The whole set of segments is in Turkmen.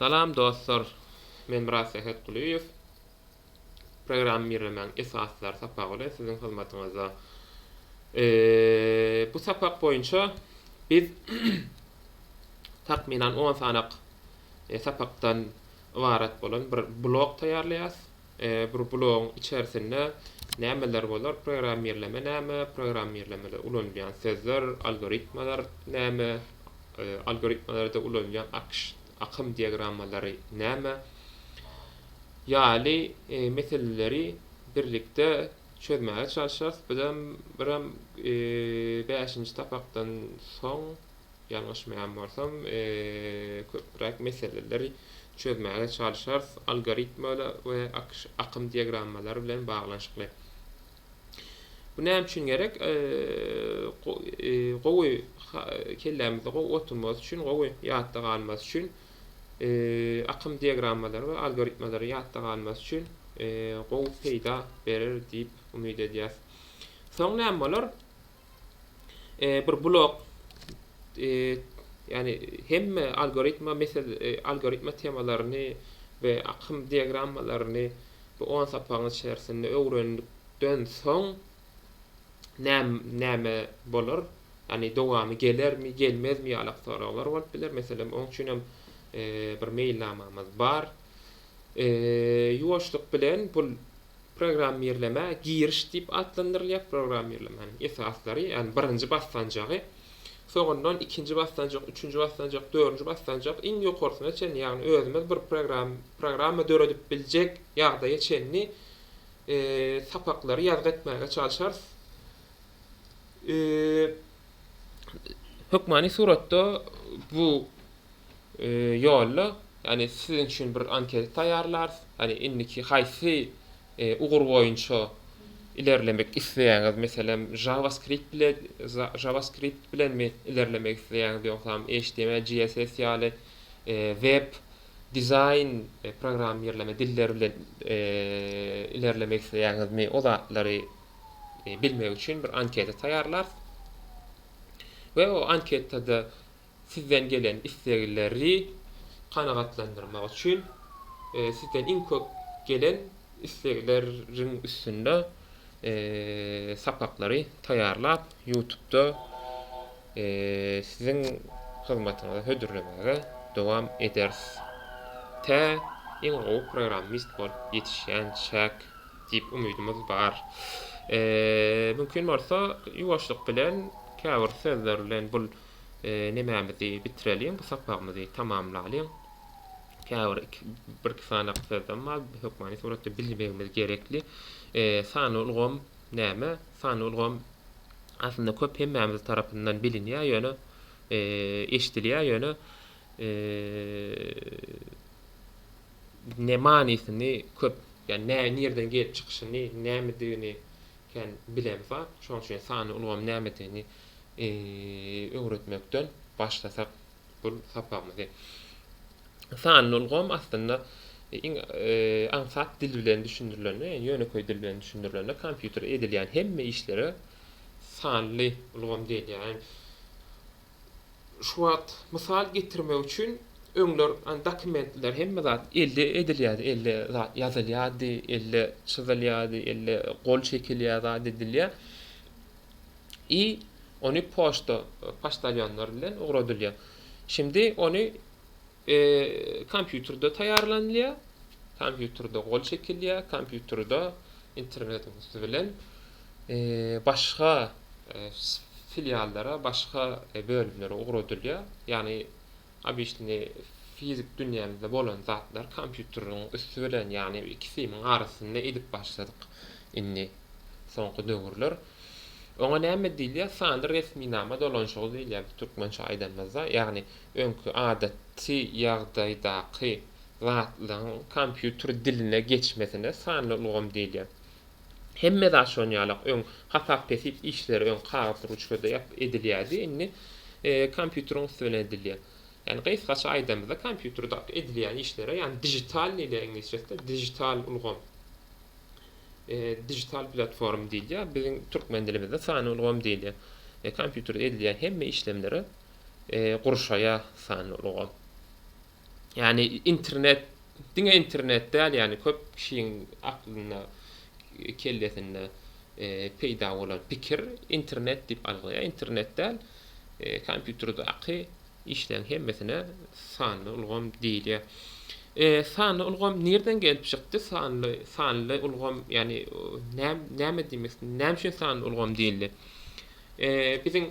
Salam dostlar! Men Myrat Sähetgulyýew. Programmirlemäň esaslary sapagy bilen siziň hyzmatyňyzda. Bu sapak boýunça biz takmynan on sanak sapakdan ybarat bolan bir blok taýýarlaýarys. Bir blogyň içerisinde nämeler bolar, programmirleme näme, programmirlemede ulanylýan sözler, algoritmalar näme, algoritmalarda ulanylýan akym diagrammalary näme ýaly meseleleri birlikde çözmäge çalyşarys. Bizem birem bäşinji sapakdan soň Ýalňyşmaýan bolsam, köpräk meseleleri çözmäge çalyşarys, algoritmler we akym diagrammalary bilen baglanyşykly. Bu näme üçin gerek? Gowy kellämizde gowy oturmasy üçin, gowy ýatda galmasy üçin, akym diagrammalary we algoritmleri ýatda galmasy üçin gowy peýda berer diýip umyt edýäs. Soň näme bolar? bir blok ýagny hemme algoritma mesel algoritma temalaryny we akym diagrammalaryny bu on sapagyň içerisinde öwrendikden soň näme bolar ýagny dowamy gelermi gelmezmi ýalak soraglar bolup biler meselem oň üçin hem bir meýilnamamyz bar ýuwaşlyk bilen bu Programmirlemä giriş diýip atlandyrylýar. Programmirlemäniň esaslary, ýagny birinji basgançagy, soňundan ikinji basgançak, üçünji basgançak, dördünji basgançak, iň ýokarsyna çenli, ýagny özümiz bir program, programma döredip biljek ýagdaýa çenli sapaklary ýazgy etmäge çalşarys. hökmany suratda bu ýolda, ýagny siziň üçin bir anketa taýýarlarys. Ýagny indiki haýsy ugur boýunça ilerlemek isleýäňiz? Meselem, JavaScript bile JavaScript bilenmi ilerlemek isleýäňiz, ýogsam HTML, CSS ýaly web dizaýn programmirleme dilleri bilen ilerlemek isleýäňizmi? O zatlary bilmek üçin bir anketa taýýarlar we o anketada sizden gelen islegleri kanagatlandyrmak üçin e, sizden iň köp gelen islegleriň üstünde e, sapaklary taýýarlap YouTube'da e, siziň hyzmatyňyza hödürlemäge dowam ederis. Tä iň gowy programmist bolup ýetişýänçäk. Diýip umydymyz bar. Mümkin bolsa ýuwaşlyk bilen käbir sözler bilen bul nemämizi bitireliň, bu sapagymyzy tamamlalyň. Käbir iki bir iki sanyk sözem bar, hökmany suratda bilmegimiz gerekli. Sanly ulgam näme? Sanly ulgam aslynda köp hemmämiz tarapyndan bilinýär, ýöne eşidilýär, ýöne ne manysyny köp ýa nä nirden gelip çykyşyny nämedigini kän bilen zat şoň üçin sanly ulgam nämedigini öwretmekden başlasak bu sapagymyzy sanly ulgam aslynda iň aňsat dil bilen düşündirilende ýönekeý dil bilen düşündirilende kompýuter edilýän hemme işlere sanly ulgam diýilýär Şu wagt mysal getirmek üçin öňler dokumentler hemme zat elde edilýärdi, elde zat ýazylýardy, elde çyzylýardy, elde gol çekilýär zat edilýär i ony poçta poçtalýonlar bilen ugradylýar. Şindi ony Kompýuterde taýýarlanylýar, kompýuterde gol çekilýär, kompýuterde internet üsti bilen başga filiallara, başga bölümlere ugradylýar. Ýagny obyçny fizik dünýämizde bolan zatlar kompýuteriň üsti bilen, ýagny iki simiň arasynda edip başladyk indi soňky döwürler. Oňa näme diýilýär? Sanly resminama dolanyşygy diýilýär biz türkmençe aýdanymyzda. Ýagny Öňki adaty ýagdaýdaky zatlaryň kompýuter diline geçmesine sanly ulgam diýilýär. Hemme zat şonuň ýalak, öň hasap-hesip işleri öň kagyz ruçkada ýazyp edilýärdi, indi kompýuteriň üsti bilen edilýär. Ýani gysgaça aýdanymyzda kompýuterde edilýän işlere ýani dijital diýilýär iňlisçesinde dijital ulgam, digital platform diýilýär, biziň türkmen dilimizde sanly ulgam diýilýär. Kompýuterde edilýän hemme işlemlere gurşaýar sanly ulgam. Ýagny internet diňe internet däl ýagny köp kişiň aklynda kellesinde peýda bolan pikir internet diýip alglaýar internet däl kompýuterdaky işleriň hemmesine sanly ulgam diýilýär. Sanly ulgam nirden gelip çykdy sanly sanly ulgam ýagny näme diýmek näme üçin sanly ulgam diýildi. Biziň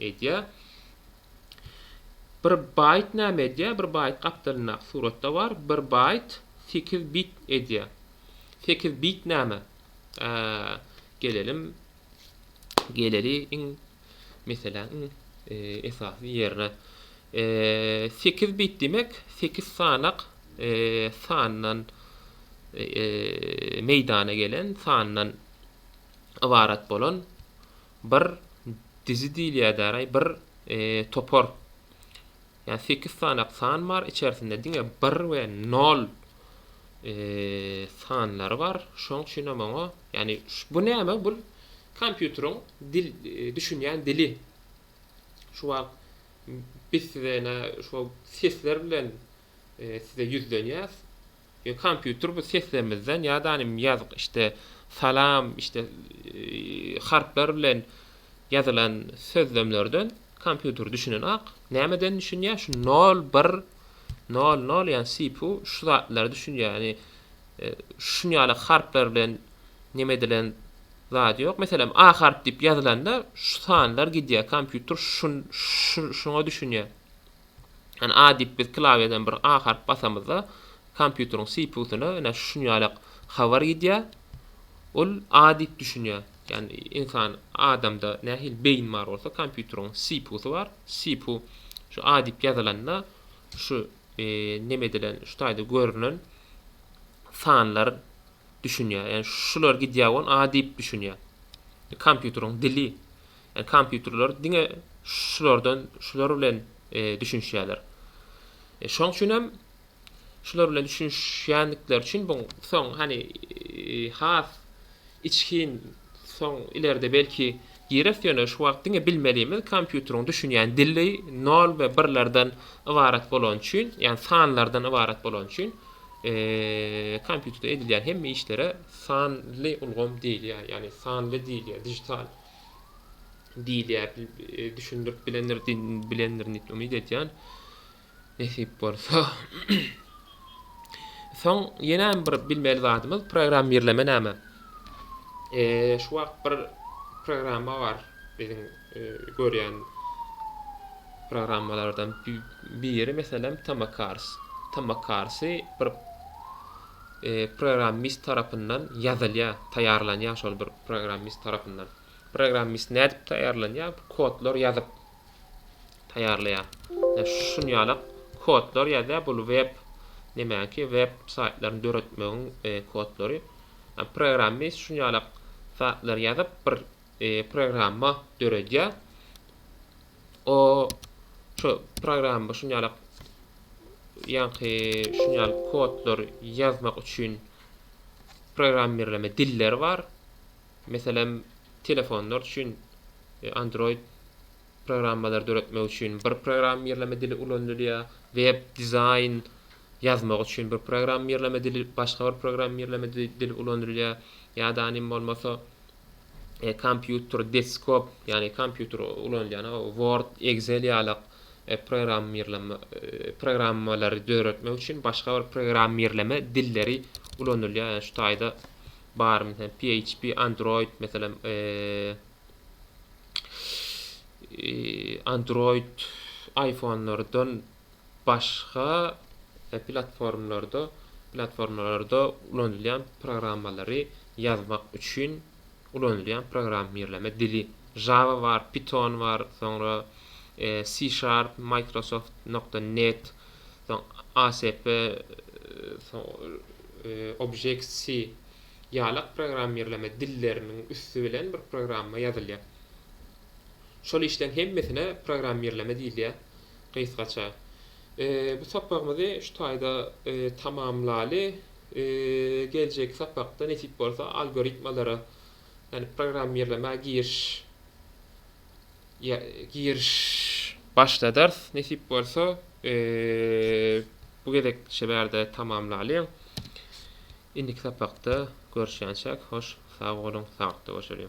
Edýär. Bir baýt näme edýär? Bir baýt gapdalyndaky suratda bar. Bir baýt sekiz bit edýär. Sekiz bit näme? Gelelim. Geleli iň meseläň iň e, esasy ýerine. E, sekiz bit demek sekiz sanak e, sandan meýdana gelen, sandan ybarat bolan Bir dizi diýilýädäraý, bir topar. Ýa sekiz sanak san bar, içerisinde diňe bir we nol sanlary bar. Şoň üçin hem oňa, ýagny bu näme? Bu kompýuteriň dil, düşünýän dili. Şu wagt biz size ene şu sesler bilen size ýüzlenýäs. Yo kompýuter bu seslemizden ya da nim ýazyk işte salam işte harplar bilen ýazylan sözlemlerden kompýuter düşünenok. Nämeden düşünýä şu nol bir nol nol ýani CPU şu zatlara düşünýä ýani şuny ýaly harplar bilen neme edilen zat ýok. Meselem a harp diýip ýazylanda şu sanlar gidýä kompýuter şun şuňa düşünýä. Ýöne A diýip biz klawiýadan bir A harp basamyzda, kompýuteriň CPU-syna ine şuny ýalak habar gidýär. Ol A diýip düşünýär. Ýani ynsan, adamda nähili beýin bar bolsa, kompýuteriň CPU-sy bar. CPU şu A diýip ýazylanda, şu neme edilen, şu taýda görünen sanlar düşünýär. Ýani şular gidýär we ony A diýip düşünýär. Kompýuteriň dili. Kompýuterler diňe şulardan, şular bilen düşünişýärler. Şoň üçin hem şular bilen düşünişýändikleri üçin bu soň hani has içgin soň ileride belki gireris ýöne şu wagt diňe bilmelimiz kompýuteriň düşünýän dili nol we birlerden ybarat bolany üçin ýagny sanlardan ybarat bolany üçin kompýuterde edilýän hemme işlere sanly ulgam diýilýär ýagny sanly diýilýär dijital diýilýär düşündirip bilendir bilendirin diýip umyt edýän nesip bolsa soň ýene bir bilmeli zadymyz programmirleme näme e, şu wagt bir programma bar biziň e, görýän programmalardan biri meselem tamakars tamakarsy bir e, programmist tarapyndan ýazylýar taýýarlanýar şol bir Programmist tarapyndan. Programmist nädip taýýarlanýar? Bu kodlar ýazyp taýýarlaýar. Ýa şun ýalak kodlar ýazýar. Bu web nemäki web saýtlaryny döretmegiň e, kodlary. Ýa programmist şun ýalak zatlar ýazyp bir e, programma döredýär. O şu programma şun ýalak ýaňky şun ýaly kodlar ýazmak üçin programmirleme dilleri bar. Meselem, telefonlar üçin e, Android programmalary döretmek üçin bir programmirleme dili ulanylýar, web dizaýn ýazmak üçin bir programmirleme dili, başga bir programmirleme dili ulanylýar. Ýa-da bolmasa kompýuter, deskop, ýagny kompýuter ulanylýan Word, Excel ýalak programmirleme programmalary döretmek üçin başga bir programmirleme dilleri ulanylýar. Ýa şu taýda bar, meselem, PHP, Android, meselem, Android iPhone-lardan başga platformlarda platformalarda ulanylýan programmalary ýazmak üçin ulanylýan programmirleme dili. Java bar, Python bar, soňra C Sharp, Microsoft nokta net, soň ASP, Object C ýalak programmirleme dilleriniň üsti bilen bir programma ýazylýar. Şol işleň hemmesine programmirleme diýilýär. Gysgaça, bu sapagymyzy şu taýda tamamlaly. Geljeki sapakda nesip bolsa algoritmalara, ýagny programmirlemäge giriş giriş başladarys. Nesip bolsa, bu gezek şu bärde tamamlaly. Indiki sapakda görüşýänçäk, hoş sag boluň, sagatda görşeliň.